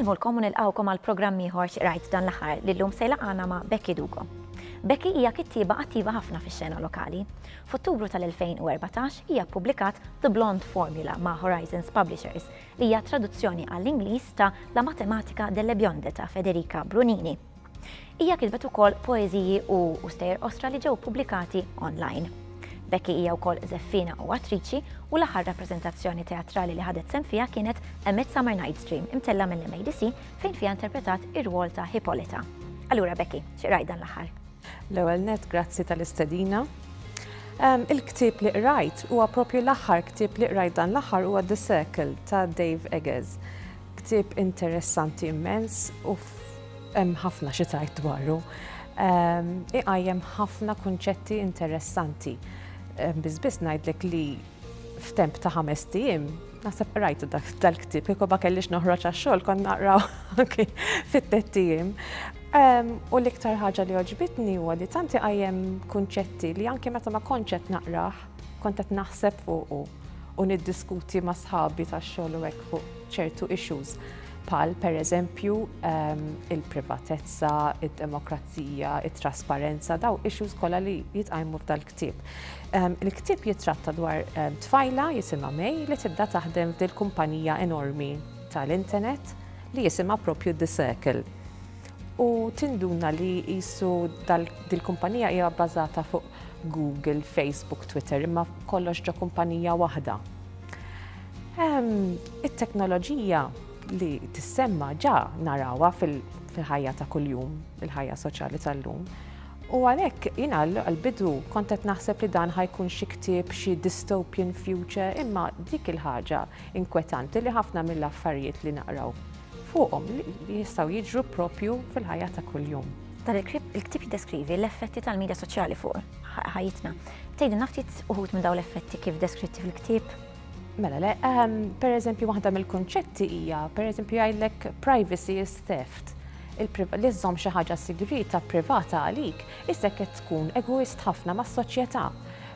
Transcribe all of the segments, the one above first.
Insellmulkom u nilqgħukom għal programm ieħor rajt dan l-aħħar li llum se jlaqgħana ma' Becky Dugo. Becky hija kittieba attiva ħafna fix-xena lokali. F'Ottubru tal-2014 hija ppubblikat The Blonde Formula ma' Horizons Publishers li hija traduzzjoni għall-Ingliż ta' La matematica delle bionde ta' Federica Brunini. Hija kitbet ukoll poeżiji u u stejjer qosra li ġew pubblikati online. Becky hija wkoll żeffiena u attriċi u l-aħħar rappreżentazzjoni teatrali li ħadet sehem fiha kienet A Midsummer Night's Dream imtella' mill-MADC fejn fiha interpretat ir-rwol ta' Hippolyta. Allura Becky, xi qrajt dan l-aħħar? L-ewwel nett grazzi tal-istedina. Ehm, il-ktieb li qrajt huwa propju l-aħħar ktieb li qrajt dan l-aħħar huwa The Circle ta' Dave Eggers. Ktieb interessanti immens u hemm ħafna xi tajt dwaru. Ehm, iqajjem ħafna kunċetti interessanti. Ehm, Biss biss ngħidlek li f'temp ta' ħamest ijiem, naħseb qrajtu dal-ktieb, kieku ma kellix noħroġ għax-xogħol kont naqraw anki fit-tett ijiem. U l-iktar ħaġa li oġbitni huwa li tanti qajjem kunċetti li anke meta ma kontx qed naqrah, kont qed naħseb fuqu u niddiskuti ma' sħabi tax-xogħol u hekk fuq ċertu issues pal per eżempju il-privatezza, id-demokrazija, it-trasparenza, daw issues kollha li jitqajmu f'dal-ktieb. Il-ktieb jittratta dwar tfajla jisimha May li tibda taħdem f'dil kumpanija enormi tal-internet li jisimha propju The Circle. U tinduna li jisu dil-kumpanija hija bbażata fuq Google, Facebook, Twitter, imma kollox ġo kumpanija waħda. It-teknoloġija li tissemma ġa narawa fil-ħajja ta' kuljum, il-ħajja soċjali tal-lum. U għalhekk, jien għall-bidu kont qed naħseb li dan ħa jkun xi ktieb, xi dystopian future, imma dik il-ħaġa inkwetanti li ħafna mill-affarijiet li naqraw fuqhom jistgħu jiġru propju fil-ħajja ta' kuljum. Dan il-ktieb jiddeskrivi l-effetti tal-medja soċjali fuq ħajjitna. Tgħidilna ftit uħud minn dawn l-effetti kif deskritti fil-ktieb? Mela, le, ehm, per eżempju, waħda mill-konċetti hija, per eżempju, jgħidlek privacy is theft. Li żżomm xi ħaġa sigrita privata għalik, issa qed tkun egoist ħafna mas-soċjetà.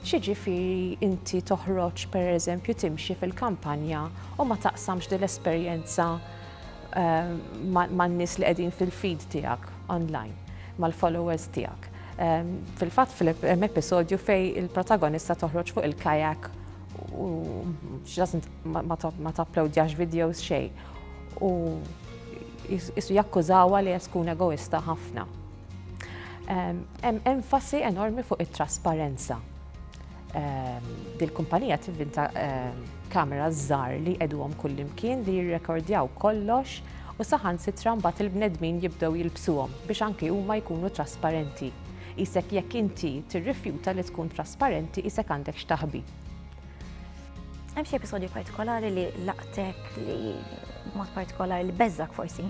Xiġifieri inti toħroġ per eżempju timxi fil-kampanja u ma taqsamx din l-esperjenza ehm, man-nies li qegħdin fil-feed tiegħek online, mal-followers tiegħek. Ehm, fil-fatt fil-episodju fej il-protagonista toħroġ fuq il-kajak U she doesn't ma tapplowdjax videos xej. U jissu jakkużawa li qed tkun egoista ħafna. Hemm enfasi enormi fuq it-trasparenza. Dil-kumpanija tivvinta kamera żgħar li qegħduhom kullimkien li jirrekordjaw kollox u saħansitra mbagħad il-bnedmin jibdew jilbsuhom biex anki huma jkunu trasparenti. Qisek jekk inti tirrifjuta li tkun trasparenti qisek għandek x'taħbi. Hemm xi episodju partikolari li laqtek li mod partikolari li beżżak forsi?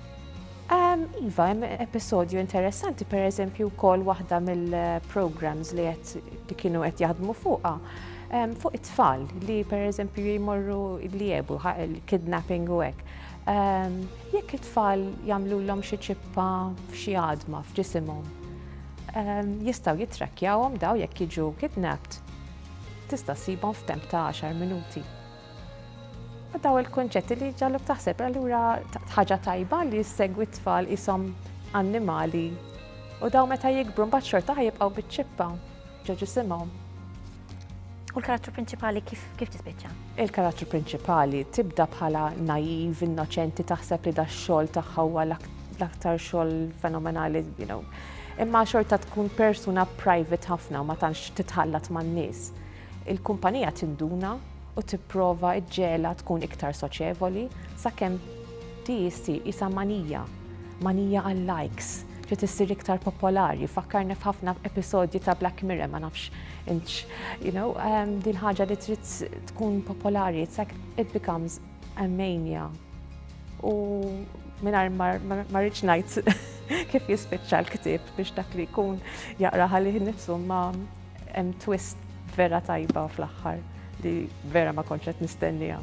Ehm, iva, hemm episodju interessanti, per eżempju, kol waħda mill-programs li qed kienu qed jaħdmu fuqha ehm, fuq it-tfal li per eżempju jmorru li jebu, kidnapping u hekk. Jekk it-tfal jagħmlulhom xi ċippa f'xi għadma f'ġisimhom, jistgħu jittrakkjawhom daw jekk jiġu kidnapped tista' ssibhom f'temp ta' 10 minuti. U daw il-kunċetti li ġalluk taħseb allura ħaġa tajba li jissegwi t-tfal isom annimali u daw meta jikbru mbagħad xorta ħajibqgħu biċ-ċippa ġo ġisimhom. U l-karattru prinċipali kif, kif tispiċċa? Il-karattru prinċipali tibda bħala naiv, innoċenti, taħseb li da xogħol tagħha huwa l-aktar xogħol fenomenali, you know. Imma xorta tkun persuna private ħafna ma tantx titħallat man-nies. Il-kumpanija tinduna u tipprova ġġela tkun iktar soċevoli sakemm di jissi isa manija, manija għal-likes. Trid issir iktar popolari, fakkarni f'ħafna episodji ta' Black Mirror, ma nafx inċ, you know, um, din ħaġa li trid tkun popolari, it's like it becomes a mania. U minar ma rridx ngħid kif jispiċċa l-ktieb biex dak li jkun jaqra ħalih nifsu ma hemm twist vera tajba fl-aħħar li vera ma konċet nistennija.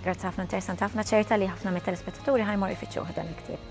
Grazzi ħafna interessanti ħafna ċerta li ħafna mit-telespettaturi ħajmor ifittxu dan il-ktieb.